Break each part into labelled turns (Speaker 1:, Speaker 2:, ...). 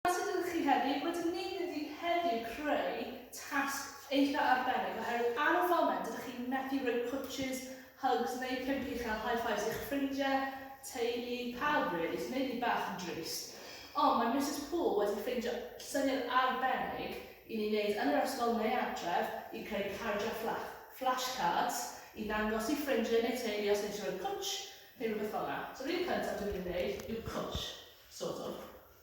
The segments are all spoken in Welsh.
Speaker 1: Os ydych chi hefyd wedi wneud iddi heddiw creu tasg eitha arbennig oherwydd ar y foment dydych chi methu rhoi pwtshys, hugs neu pump uchel high fives i'ch ffrindiau, teulu, pawb rili, sy'n neud fi bach yn drist. Ond mae Misus Poole wedi ffindio syniad arbennig i ni wneud yn yr ysgol neu adref i creu cardiau fflach, flash cards, i ddangos i ffrindiau neu teulu os eisiau rhoi pwtsh neu rhywbeth fel 'na. So yr un cyntaf dwi'n mynd i wneud yw pwtsh, sort of.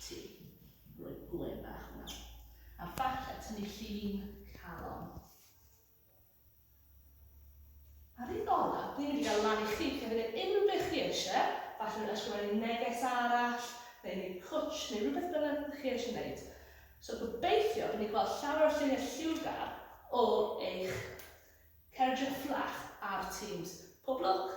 Speaker 1: Ti. Rhoi gwên bach hwnna. A falle tynnu llun calon. Ar un olaf, ni'n mynd i gael lan i chi cefyd e unrhyw beth chi eisiau, falle mynd ysgrifennu neges arall, neu neu cwtsh, neu rhywbeth bynnag chi eisiau gwneud. So gobeithio bod ni'n gweld llawer o lluniau lliwgar o eich cerdded fflach ar Teams. Pob lwc!